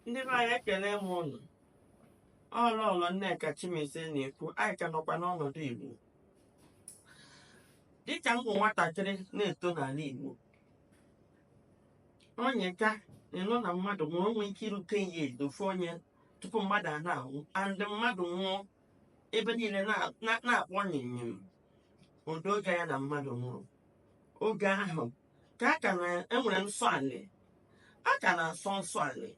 ndị be anyị ekele m ụnụ ọ lọọlọ nneka chimezie na-ekwu anyị ka nọkwa n'ọnọdụ igbo dịka m bụ nwatakịrị na-eto n'ala igbo onye ka ịnụ na mmadụ nwụrụ o nwee ike irute ya edofe one year tupu mmadụ a na-anwụ and mmadụ nwụọ ebe niile na- na- na-akpọ nyịnyịm ụdị oge ya na mmadụ nwụrụ oge ahụ ka a ka na-enwere nsọ anị a ka na-asọ nsọ anị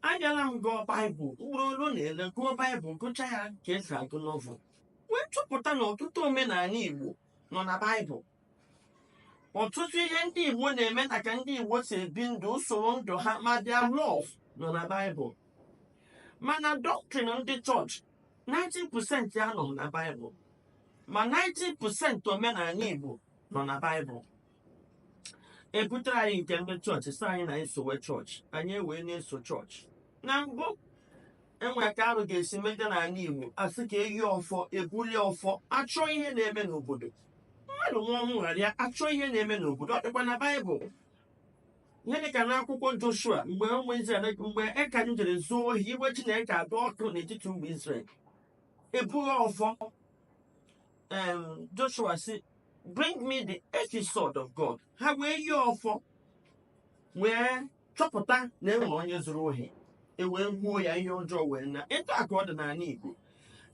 abịala m gụọ baịbụl ugboro ole na ole gụọ baịbụl gụcha ya ka esi agụ novel wee chọpụta na ọtụtụ omenala igbo nọ na baịbụl ọtụtụ ihe ndị igbo na-eme na ka ndị igbo si ebi ndụ usoro ndụ ha ma their law nọ na baịbụl mana doctrine ndị chọọchị 90% ya anọrọ na baịbụl ma 90% omenala igbo nọ na baịbụl ebutere anyị nke ndị chọọchị sị anyị na anyị sowe chọọchị anyị ewee na-eso chọọchị na mbụ enwe ka arụ ga-esi mejọ n'ala igbo asị ka eyi ọfọ ebulie ọfọ achọọ ihe na-eme n'obodo mmadụ nwụa ọnwụ aghara achọọ ihe na-eme n'obodo ọ dịkwa na baịbụl ihe dị ka n'akwụkwọ joshua mgbe ụmụ israel mgbe achan jere zuo ohi iwe chineke adị ọkụ n'etiti ụmụ israel ebulie ọfọ um, Joshua sị bring me the ephod of God ha wee yie ọfọ wee chọpụta na enwere onye zuru ohi e wee gbuo ya ihe ọjọọ wee na etu a ka ọ dị n'ala Igbo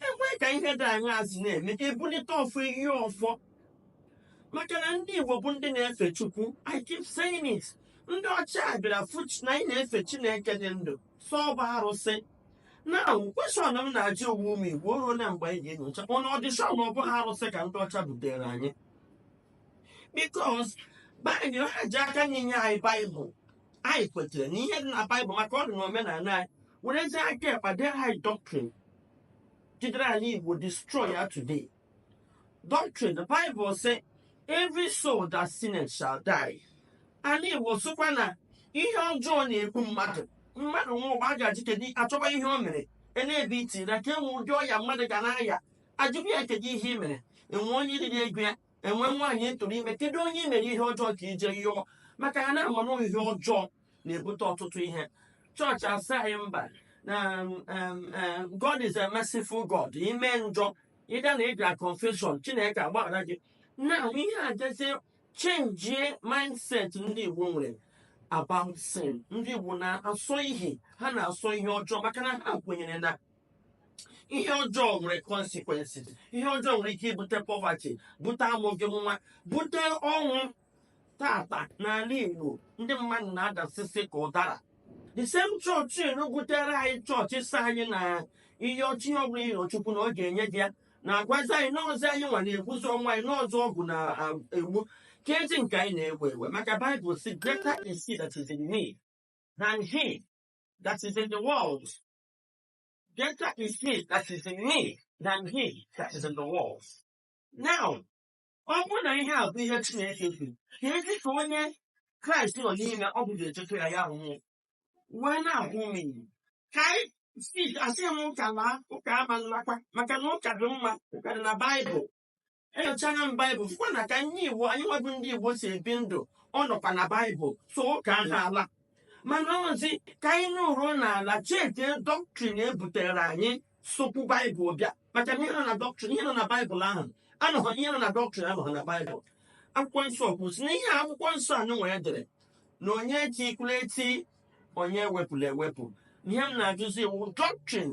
enwee ka ihe dị anyị azụ na-eme ebulite ọfọ eyie ọfọ maka na ndị Igbo bụ ndị na-efe Chukwu I keep saying it ndị ọcha bịara fụ chi- na anyị na-efe Chineke dị ndụ sị ọ bụ arụsị Now, question m na-ajụ onwe m ụmụ Igbo o ruola mgbe anyị ga-enyocha ọnọdụ ị sure na ọ bụghị arụsị ka ndị ọcha butere anyị because baịbụl ha ji aka nri nye anyị baịbụl anyị kwetere na ihe dị na baịbụl maka ọ dị na omenala anyị werezie aka ekpa dee anyị doctrine jidere anị Igbo destroy ya today doctrine the bible say every soul that sinneth shall die ala igbo sịkwa na ihe ọjọọ na-egbu mmadụ mmadụ nwụa ugbua a ga-ajụ kedu achọba ihe o mere e na-ebe iti na ka enwe ụdị ọya mmadụ ga na-aya ajụba ya kedu ihe i mere enwe onye i riri ego ya enwe nwaanyị ị tụrụ ime kedu onye i mere ihe ọjọọ ka i je yọọ maka ha na-ama na ihe ọjọọ na-ebute ọtụtụ ihe chọọchị asị anyị mba na um, um, um, God is a merciful God i mee njọ ị gaa na ị gaa confession Chineke agbaghara gị na ihe a jezie chenjie mindset ndị Igbo nwere about sin ndị Igbo na-asọ ihe ha na-asọ ihe ọjọọ maka na ha kwenyere na ihe ọjọọ nwere consequences ihe ọjọọ nwere ike ibute poverty bute amụghị nwa bute ọnwụ taata n'ala Igbo ndị mmadụ na-adasịsị ka ụdara the same chọọchị enugutere anyị chọọchị sị anyị na ihe ọchị ọbụla ị rịọ Chukwu na ọ ga-enye gị ya na-agwazi anyị n'ọzọ anyị nwa na-ekwuzi onwe anyị na ọọzị ọgwụ na-egbu keezi nke anyị na-ewe ewe maka Bible sị greater is he that is in me than he that is in the world greater is he that is in me than he that is in the world now ọ bụrụ na ihe a bụ ihe Chineke kwuru keezi ka onye Kraịst nọ n'ime ọ bụla echekwa ya ya anwụọ wee na-agwụ m ike ka anyị si asị m ụka laa ụka ama nlakwa maka na ụka dị mma ụka dị na Baịbụl enyochana m Baịbụl fụkwa na ka ndị Igbo anyị nwa bụ ndị Igbo si ebi ndụ ọ nọkwa na Baịbụl so ụka aha ala mana ọọzị ka anyị nọrọ n'ala chete dọktrin e butere anyị sokwu baịbụl bịa maka na ihe nọ na dọktrin ihe nọ na baịbụl ahụ anọghị ihe nọ na dọktrin anọghị na baịbụl akwụkwọ nsọ kwu sị na ihe akwụkwọ nsọ anyị nwere dere na onye etikwula eti onye ewepụla ewepụ ihe m na-ajụzi wụ dọktrin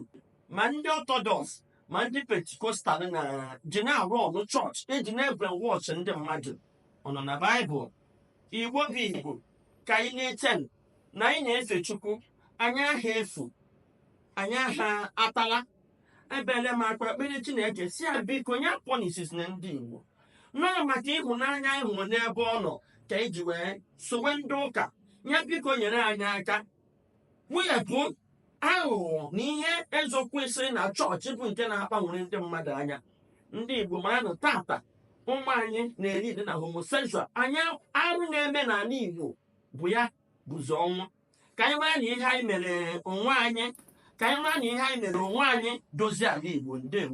ma ndị ọtọdọks ma ndị pentikostal na-eji na-arụ ọrụ chọọchị eji na-ebrainwash ndị mmadụ ọ nọ na baịbụl Igbo bụ Igbo ka anyị na-eche na anyị na-efe Chukwu anyị aha efu anyị aha atala ebere m akwa kpere Chineke sị ya biko nye policies na ndị Igbo nọọ maka ịhụnanya anyị hụrụ n'ebe ọ nọ ka eji wee sowe ndị ụka ya biko nyere anyị aka wepụ aghụghọ na ihe ezokwesịrị na chọọchị bụ nke na-agbanwere ndị mmadụ anya ndị Igbo maranụ taata ụmụ anyị na-eri dị na homosexual anyị arụ na-eme n'ala Igbo bụ ya bụzi ọnwụ ka anyị mara na ihe anyị mere onwe anyị ka anyị mara na ihe anyị mere onwe anyị dozie ala Igbo ndewo